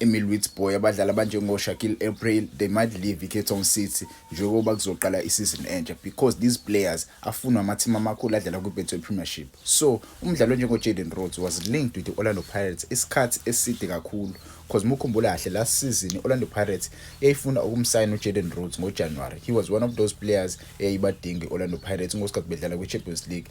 Emil Witsboy abadlali abanjengoShakil April they might leave iCape Town City njengoba kuzoqala isizini entsha because these players afunwa amathimu amakhulu adlala kwiBetway Premiership so umdlali onjengoJaden Rhodes was linked with i-Orlando Pirates isikhathi eside kakhulu because mukhumbula kahle last season i-Orlando Pirates yayifuna ukumsayina uJaden Rhodes ngoJanuary he was one of those players eyayibadinga i-Orlando Pirates ngosikhathi bedlala kwiChampions League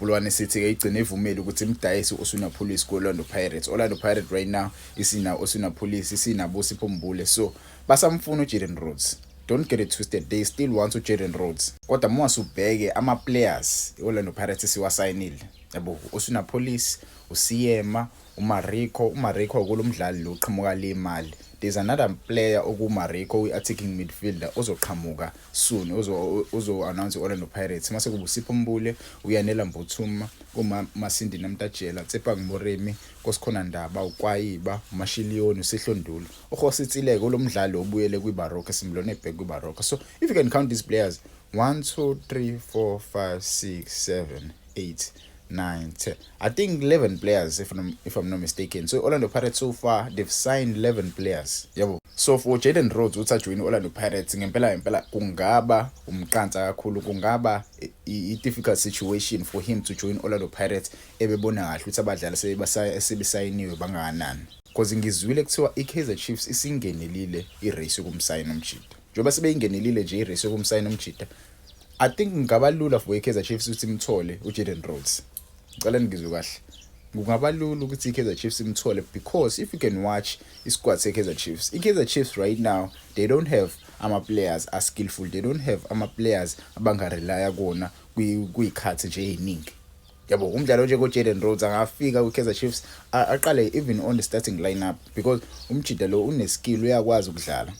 Bulwane City ke igcine ivumile ukuthi imdayise uSuna Police ku-Orlando Pirates. Orlando Pirates right now isina uSuna Police, isina Busipho Mbule. So basamfuna uJaden Rhodes. Don't get it twisted, they still want uJaden Rhodes. Kodwa uma usubheke ama-players i-Orlando Pirates siwasayinile. Yabo, uSuna Police, uSiyema, UMariko, uMariko kulo mdlali lo uqhamuka le Mali. There's another player okuMariko uyi-attacking midfielder ozoqhamuka soon uzo-announce i-Orlando Pirates mase kubusipho Mbule, uyanela Mbuthuma, kumasindi Namtajela, Tsepang Moremi, kosikhona Ndaba, ukwayiba, umashiliyoni, usihlondulu. Uhositsileke ulo mdlali obuyele kwibaroka esimbulone ebheke kwibaroka. So if you can count these players 1 2 3 4 5 6 7 8 nine, ten. I think 11 players, if I'm, if I'm not mistaken. So Orlando Pirates so far, they've signed 11 players. Yabo. So for Jaden Rhodes, uthi ajoyine Orlando Pirates, ngempela ngempela kungaba umqansa kakhulu, kungaba i-difficult situation for him to join Orlando Pirates ebebona kahle ukuthi abadlali sebesayiniwe bangakanani. Because ngizwile kuthiwa i-Kaizer Chiefs isingenelile i-race yokumsayina umjita. Njengoba sebeyingenelile nje i-race yokumsayina umjita, I think ngaba lula for iKaizer Chiefs ukuthi imthole uJaden Rhodes. Ngicela ningizwe kahle. Kungaba lula ukuthi iKaizer Chiefs imthole because if you can watch isquad seKaizer Chiefs. IKaizer Chiefs right now they don't have ama players are skillful. They don't have ama players abangarelaya kona kuyikhathi nje eziningi. yabo umdlalo nje koJaden Rhodes angafika kwiKaizer Chiefs aqale even on the starting lineup because umjida lo uneskill uyakwazi ukudlala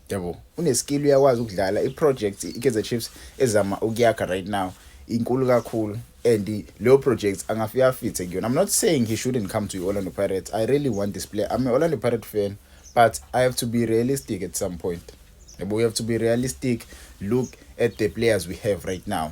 yabo uneskill uyakwazi ukudlala iproject iKaizer Chiefs ezama ukuyakha right now inkulu kakhulu and leyo project angafika afithe kuyona i'm not saying he shouldn't come to Orlando Pirates i really want this player i'm an Orlando Pirate fan but i have to be realistic at some point yabo we have to be realistic look at the players we have right now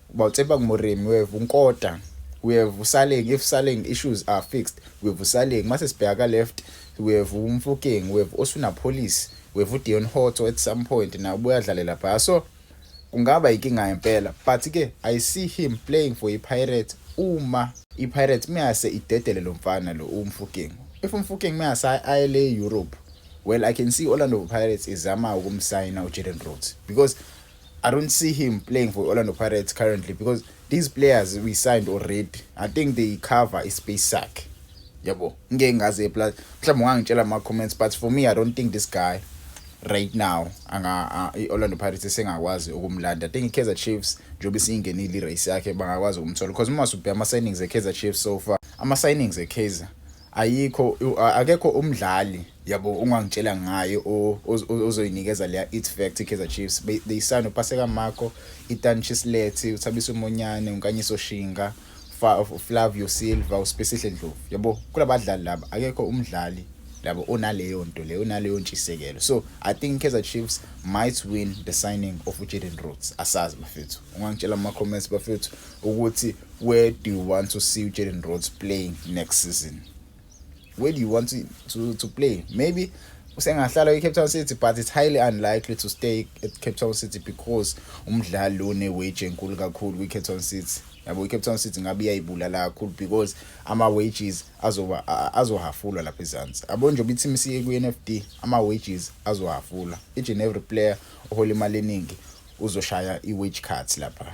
Bawutsepha ngumurimi wethu uNkota we have usaleng if saleng issues are fixed we have usaleng mase sibheka ka left we have umfokeng we have osuna police we have uDeon Hotto at some point na ubuya dlalela phaya so kungaba inkinga impela but ke i see him playing for iPirates uma iPirates meyase idedele lo mfana lo umfokeng if umfokeng meyase ayele Europe well i can see Orlando Pirates izama ukumsayina uJaden Rhodes because I don't see him playing for Orlando Pirates currently because these players we signed already. I think they cover a space sack. Yabo, ngeke ngaze plus mhlawumbe ungangitshela ama comments but for me I don't think this guy right now anga iOrlando Pirates esengakwazi ukumlanda. I think iKaizer Chiefs njengoba isiyingenile irace yakhe bangakwazi ukumthola because uma usubheka ama signings eKaizer Chiefs so far, ama signings eKaizer Ayikho akekho umdlali yabo ungangitshela ngaye ozoyinikeza leya it fact iKaizer Chiefs they sign uPaseka Mako, Itan Chislethi, uThabiso Monyane, uNkanyiso Shinga, Flavio Silva, uSpesihle Ndlovu. Yabo kulabadlali laba akekho umdlali labo onaleyo nto leyo onaleyo ntshisekelo so i think kaizer chiefs might win the signing of ujaden roots asazi bafethu ungangitshela kuma-comments bafethu ukuthi Where do you want to see Jaden Rhodes playing next season? Where do you want to, to, to play? Maybe usengahlala kwi-cape town city but it's highly unlikely to stay at cape town city because umdlali lo ne-wage enkulu kakhulu kwi-cape town city yabo i-cape town city ngabe iyayibulala kakhulu because ama-wages azoba azohafulwa lapha ezansi abo njengoba i-team siye kwi-n f d ama-wages azohafulwa each and every player ohola imali eningi uzoshaya i-wage cut lapha